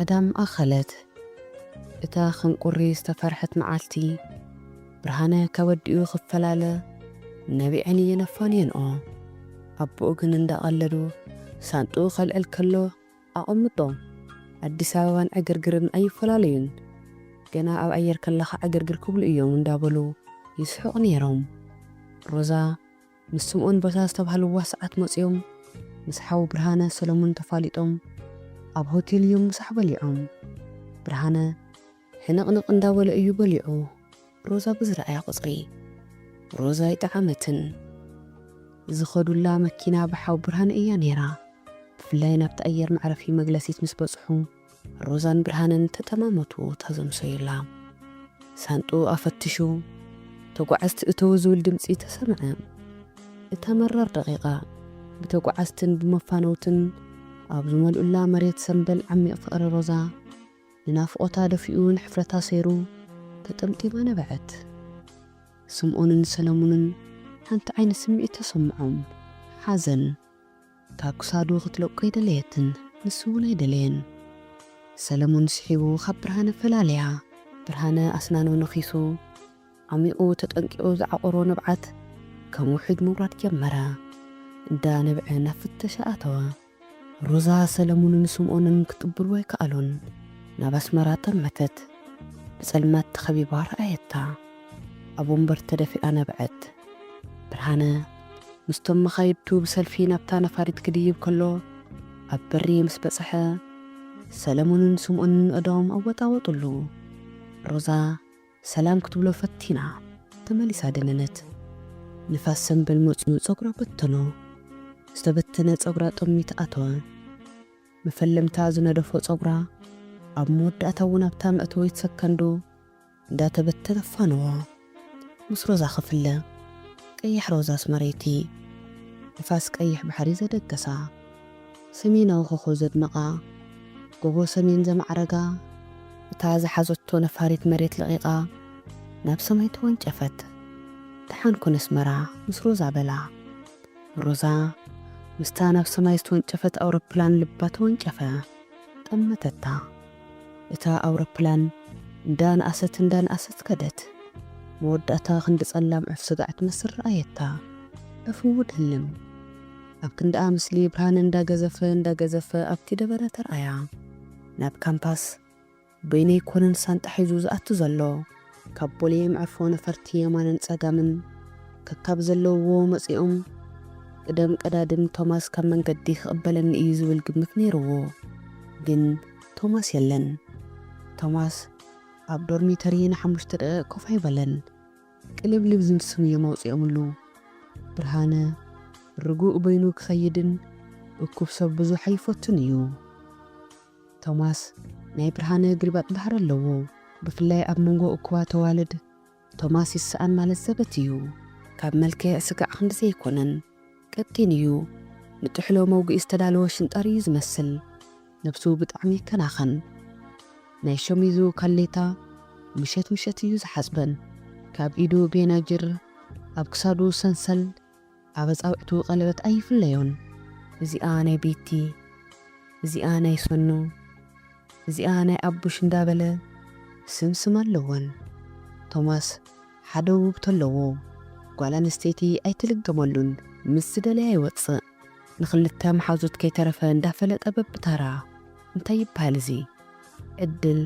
ቀዳም ኣኸለት እታ ክንቁሪ ዝተፈርሐት መዓልቲ ብርሃነ ከወዲኡ ክፈላለ ነቢዐን እየን ኣፋንየንኦ። ኣቦኡ ግን እንዳቐለዱ ሳንጥኡ ከልዕል ከሎ ኣቐምጦ። ኣዲስ ኣበባን ዕግርግርን ኣይፈላለዩን። ገና ኣብ ኣየር ከለኻ ዕግርግር ክብሉ እዮም እንዳበሉ ይስሕቑ ነይሮም። ሮዛ ምስ ስምኦን በታ ዝተባህልዋ ሰዓት መጺኦም ምስ ሓው ብርሃነ ሰለሙን ተፋሊጦም ኣብ ሆቴል እዮም ምሳሕ በሊዖም። ብርሃነ ሕንቕንቕ እንዳበለ እዩ በሊዑ። ሮዛ ብዝረኣያ ቁጽሪ ሮዛ ኣይጠዓመትን። ዝኸዱላ መኪና ብሓው ብርሃነ እያ ነይራ። ብፍላይ ናብቲ ኣየር መዕረፊ መግለሲት ምስ በጽሑ። ሮዛን ብርሃንን ተጠማመቱ ተዘምሰዩላ። ሳንጥኡ ኣፈትሹ ተጓዓዝቲ እተዉ ዝብል ድምጺ ተሰምዐ። እታ መራር ደቒቓ ብተጓዓዝትን ብመፋነውትን ኣብ ዝመልኡላ መሬት ሰምበል ዓሚቕ ፍቕሪ ሮዛ ንናፍቖታ ደፊኡ ንሕፍረታ ሰይሩ ተጠምጢማ ነበዐት። ስምኦንን ሰለሙንን ሓንቲ ዓይነት ስምዒት ተሰምዖም፣ ሓዘን። ካብ ክሳዱ ክትለቆ ኣይደለየትን ንሱ ውን ኣይደለየን። ሰለሙን ስሒቡ ካብ ብርሃነ ፈላለያ። ብርሃነ ኣስናኑ ነኺሱ ዓሚቑ ተጠንቂቑ ዝዓቖሮ ንብዓት ከም ውሕጅ ምውራድ ጀመረ። እንዳ ነብዐ ናብ ፍተሻ ኣተወ። ሮዛ ሰለሙንን ስምኦንን ክትቅብልዎ ኣይከኣሉን። ናብ ኣስመራ ጠመተት። ብጸልማት ተኸቢባ ረኣየታ። ኣብ ወንበር ተደፊኣ ነብዐት። ብርሃነ ምስቶም መኻይድቱ ብሰልፊ ናብታ ነፋሪት ክድይብ ከሎ ኣብ በሪ ምስ በጽሐ፣ ሰለሙንን ስምኦንን ኣእዳዎም ኣወጣወጡሉ። ሮዛ ሰላም ክትብሎ ፈቲና ተመሊሳ ደነነት። ንፋስ ሰምበል መጽዩ ጸጉራ በተኖ። ዝተበተነ ጸጉራ ጠሚት ኣተወ። መፈለምታ ዝነደፎ ጸጉራ ኣብ መወዳእታ እውን ኣብታ መእተዊት ሰከንዶ፣ እንዳ ተበተነ ኣፋነዎ ምስ ሮዛ ክፍለ ቀያሕ ሮዛስ መሬቲ ንፋስ ቀይሕ ባሕሪ ዘደገሳ ሰሜናዊ ኮኾብ ዘድመቓ ጎቦ ሰሜን ዘማዕረጋ እታ ዝሓዘቶ ነፋሪት መሬት ለቒቓ ናብ ሰማይ ተወንጨፈት ደሓን ኩን ኣስመራ ምስ ሮዛ በላ ሮዛ ምስታ ናብ ሰማይ ዝተወንጨፈት ኣውሮፕላን ልባ ተወንጨፈ ጠመተታ። እታ ኣውሮፕላን እንዳ ነኣሰት እንዳ ነኣሰት ከደት። መወዳእታ ክንዲ ጸላም ዑፍ ስጋዕ ትመስል ረኣየታ። ዑፍ እው ትልም። ኣብ ክንድኣ ምስሊ ብርሃን እንዳ ገዘፈ እንዳ ገዘፈ ኣብቲ ደበረ ተርኣያ። ናብ ካምፓስ በይነይ ኮነን ሳንጣ ሒዙ ዝኣቱ ዘሎ። ካብ ቦሌ የምዕፎ ነፈርቲ የማንን ጸጋምን ከካብ ዘለውዎ መጺኦም ቅደም ቀዳድም ቶማስ ካብ መንገዲ ክቕበለኒ እዩ ዝብል ግምት ነይርዎ ግን ቶማስ የለን ቶማስ ኣብ ዶርሚተሪ ንሓሙሽተ ደቒቕ ኮፍ ኣይበለን ቅልብልብ ዝምስም እዮም ኣውጺኦምሉ ብርሃነ ርጉእ በይኑ ክኸይድን እኩብ ሰብ ብዙሕ ኣይፈቱን እዩ። ቶማስ ናይ ብርሃነ ግልባጥ ባህሪ ኣለዎ ብፍላይ ኣብ መንጎ እኩባት ኣዋልድ ቶማስ ይሰኣን ማለት ዘበት እዩ ካብ መልክዕ ስጋዕ ክንዲ ዘይኮነን ቀጢን እዩ ንጥሕሎ መውግኢ ዝተዳለወ ሽንጣር እዩ ዝመስል ነብሱ ብጣዕሚ ይከናኸን ናይ ሸሚዙ ካሌታ ምሸት ምሸት እዩ ዝሓጽበን ካብ ኢዱ ቤናጅር ኣብ ክሳዱ ሰንሰል ኣብ ኣጻብዕቱ ቀለበት ኣይፍለዮን። እዚኣ ናይ ቤቲ፣ እዚኣ ናይ ሰኑ፣ እዚኣ ናይ ኣቡሽ እንዳበለ ስም ስም ኣለወን። ቶማስ ሓደ ውብቶ ኣለዎ። ጓል ኣንስተይቲ ኣይትልገመሉን። ምስ ዝደለያ ይወጽእ። ንኽልተ መሓዙት ከይተረፈ እንዳፈለጠ በብታራ። እንታይ ይብሃል እዚ? ዕድል፣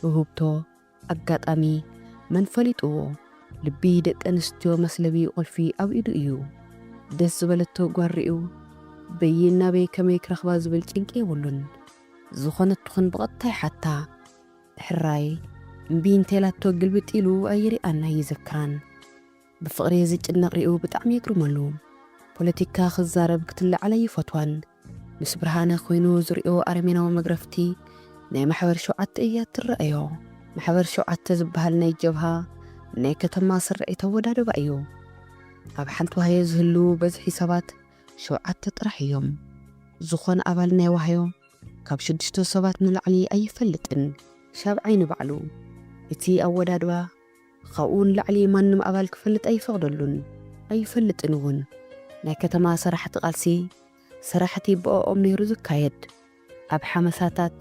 ውህብቶ፣ ኣጋጣሚ መን ፈሊጥዎ ልቢ ደቂ ኣንስትዮ መስለቢ ቁልፊ ኣብ ኢዱ እዩ ደስ ዝበለቶ ጓል ሪኡ በይን ናበይ ከመይ ክረክባ ዝብል ጭንቂ የብሉን ዝኮነት ትኩን ብቀጥታ ይሓታ ሕራይ እምቢ እንተኢላቶ ግልብጥ ኢሉ ኣይሪኣን ኣይዝክራን ብፍቅሪ ዝጭነቅ ሪኡ ብጣዕሚ የግርመሉ ፖለቲካ ክዛረብ ክትለዓል ኣይፈትዋን ምስ ብርሃነ ኮይኑ ዝሪኦ ኣረሜናዊ መግረፍቲ ናይ ማሕበር ሸውዓተ እያ እትረኣዮ። ማሕበር ሸውዓተ ዝበሃል ናይ ጀብሃ ናይ ከተማ ስርዒት ኣወዳድባ እዩ። ኣብ ሓንቲ ዋህዮ ዝህልዉ በዝሒ ሰባት ሸውዓተ ጥራሕ እዮም። ዝኾነ ኣባል ናይ ዋህዮ ካብ ሽዱሽተ ሰባት ንላዕሊ ኣይፈልጥን። ሻብዓይ ንባዕሉ እቲ ኣወዳድባ ኻብኡ ንላዕሊ ማንም ኣባል ክፈልጥ ኣይፈቕደሉን ኣይፈልጥን እውን። ናይ ከተማ ሰራሕቲ ቃልሲ ሰራሕቲ ብኦኦም ነይሩ ዝካየድ። ኣብ ሓመሳታት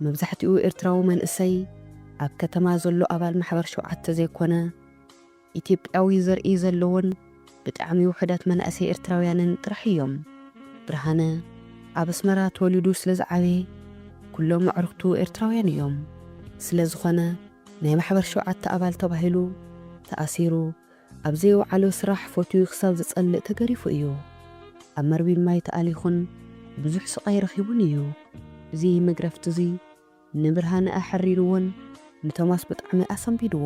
መብዛሕትኡ ኤርትራዊ መንእሰይ ኣብ ከተማ ዘሎ ኣባል ማሕበር ሸውዓተ ዘይኮነ ኢትዮጵያዊ ዘርኢ ዘለዎን ብጣዕሚ ውሑዳት መናእሰይ ኤርትራውያንን ጥራሕ እዮም። ብርሃነ ኣብ ኣስመራ ተወሊዱ ስለ ዝዓበየ ኩሎም ኣዕሩኽቱ ኤርትራውያን እዮም። ስለ ዝኾነ። ናይ ማሕበር ሸውዓተ ኣባል ተባሂሉ ተኣሲሩ ኣብ ዘይወዓሎ ስራሕ ፎትዩ ክሳብ ዝጸልእ ተገሪፉ እዩ። ኣብ መርቢብ ማይ ተኣሊኹን ብዙሕ ስቓይ ረኺቡን እዩ። እዚ መግረፍቲ'ዚ ንብርሃነ ኣሕሪርዎን ንቶማስ ብጣዕሚ ኣሰንቢድዎ።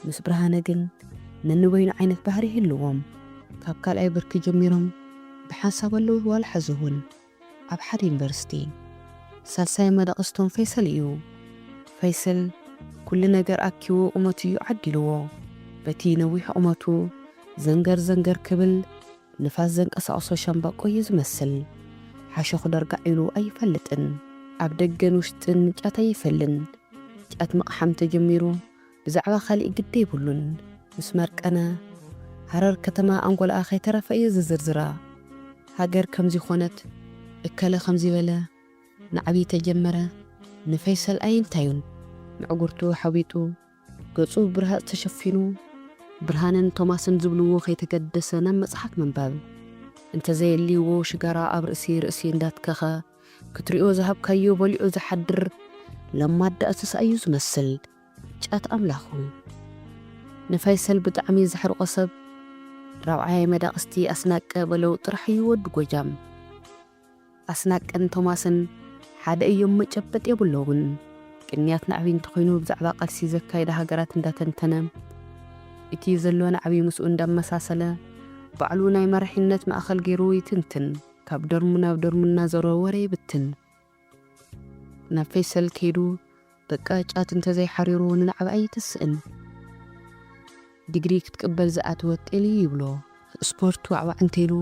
ምስ ብርሃነ ግን ነንበይኑ ዓይነት ባህሪ ይህልዎም። ካብ ካልኣይ ብርኪ ጀሚሮም ብሓንሳብ ኣለዉ ዋላ ሕዚ እውን። ኣብ ሓደ ዩኒቨርሲቲ ሳልሳይ መደቕስቶም ፈይሰል እዩ። ፈይሰል ኩሉ ነገር ኣኪቡ ቁመቱ እዩ ዓዲልዎ። በቲ ነዊሕ ቁመቱ ዘንገር ዘንገር ክብል ንፋስ ዘንቀሳቕሶ ሸምበቆ እዩ ዝመስል። ሓሸኹ ደርጋዕ ኢሉ ኣይፈልጥን። ኣብ ደገን ውሽጥን ጫት ኣይፈልን። ጫት ምቕሓም ተጀሚሩ ብዛዕባ ካሊእ ግዲ የብሉን ምስ መርቀነ ሃረር ከተማ ኣንጎልኣ ከይተረፈ እዩ ዝዝርዝራ ሃገር ከምዚ ኮነት እከለ ከምዚ በለ ንዓብይ ተጀመረ ንፈይሰል ኣይንታዩን ምዕጉርቱ ሓዊጡ ገፁ ብብርሃፅ ተሸፊኑ ብርሃንን ቶማስን ዝብልዎ ከይተገደሰ ናብ መፅሓፍ ምንባብ እንተዘየሊዎ ሽጋራ ኣብ ርእሲ ርእሲ እንዳትከኸ ክትሪኦ ዝሃብካዮ በሊዑ ዝሓድር ለማዳ እንስሳ እዩ ዝመስል። ጫት ኣምላኹ ንፋይሰል ብጣዕሚ ዘሕርቆ ሰብ ራብዓይ መዳቅስቲ ኣስናቀ በለው ጥራሕ እዩ ወዲ ጎጃም ኣስናቀን ቶማስን ሓደ እዮም መጨበጥ የብሎምን ቅንያት ናዕቢ እንተኮይኑ ብዛዕባ ቃልሲ ዘካይዳ ሃገራት እንዳተንተነ እቲ ዘሎ ናዕቢ ምስኡ እንዳመሳሰለ ባዕሉ ናይ መራሒነት ማእከል ጌሩ ይትንትን ካብ ደርሙ ናብ ደርሙ እናዞረ ወረ ይብትን ናብ ፈይሰል ከይዱ በቃ ጫት እንተዘይ ሓሪሩ ንናዕቢ ኣይትስእን ዲግሪ ክትቅበል ዝኣተወት ጤሊ ይብሎ። ስፖርት ዋዕዋዕ እንተይሉ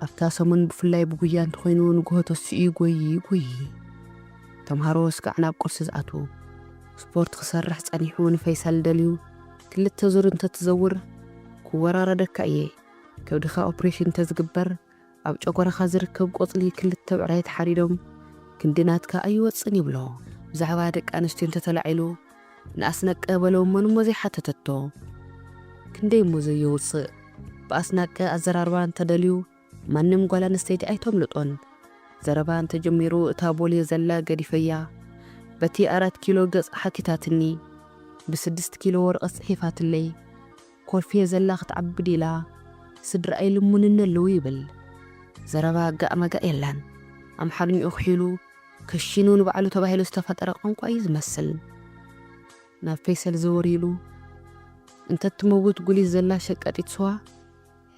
ኣብታ ሰሙን ብፍላይ ብጉያ እንተኾይኑ ንጉሆ ተሲኡ ይጎዪ ይጎዪ። ተምሃሮ ስጋዕ ናብ ቁርሲ ዝኣትዉ። ስፖርት ክሰርሕ ጸኒሑ ንፈይሰል ደልዩ ክልተ ዙር እንተትዘውር ክወራረደካ እየ ከብድኻ ኦፕሬሽን እንተዝግበር ኣብ ጨጎራኻ ዝርከብ ቆጽሊ ክልተ ብዕራይ ተሓሪዶም ክንዲ ናትካ ኣይወጽእን ይብሎ ብዛዕባ ደቂ ኣንስትዮ እንተ ተላዒሉ ንኣስነቀ በሎ መን እሞ ዘይሓተተቶ ክንደይ እሞ ዘየውጽእ ብኣስናቀ ኣዘራርባ እንተ ደልዩ ማንም ጓል ኣንስተይቲ ኣይተምልጦን ዘረባ እንተ ጀሚሩ እታ ቦሌ ዘላ ገዲፈያ በቲ ኣራት ኪሎ ገጻ ሓቲታትኒ ብስድስት ኪሎ ወረቐት ጽሒፋትለይ ኮልፌ ዘላ ክትዓቢ ዲላ ስድራ ኣይልሙንኒ ኣለው ይብል ዘረባ ጋእ መጋእ የላን ኣምሓርኝኡ ክሒሉ ከሺኑ ንባዕሉ ተባሂሉ ዝተፈጠረ ቋንቋ እዩ ዝመስል ናብ ፌሰል ዘወር ኢሉ እንተትመውት ጉሊት ዘላ ሸቀጢት ስዋ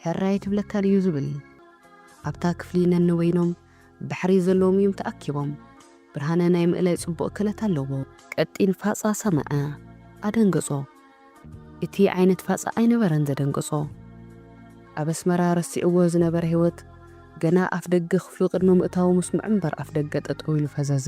ሕራይ ኣይትብለካን እዩ ዝብል። ኣብታ ክፍሊ ነንበይኖም ባሕሪ ዘለዎም እዮም ተኣኪቦም። ብርሃነ ናይ ምእላይ ጽቡቕ ክእለት ኣለዎ። ቀጢን ፋጻ ሰመዐ። ኣደንገጾ። እቲ ዓይነት ፋጻ ኣይነበረን ዘደንገጾ። ኣብ ኣስመራ ረሲዕዎ ዝነበረ ህይወት ገና ኣፍደገ ክፍሉ ቅድሚ ምእታዉ ምስምዑ እምበር ኣፍደገ ጠጠው ኢሉ ፈዘዘ።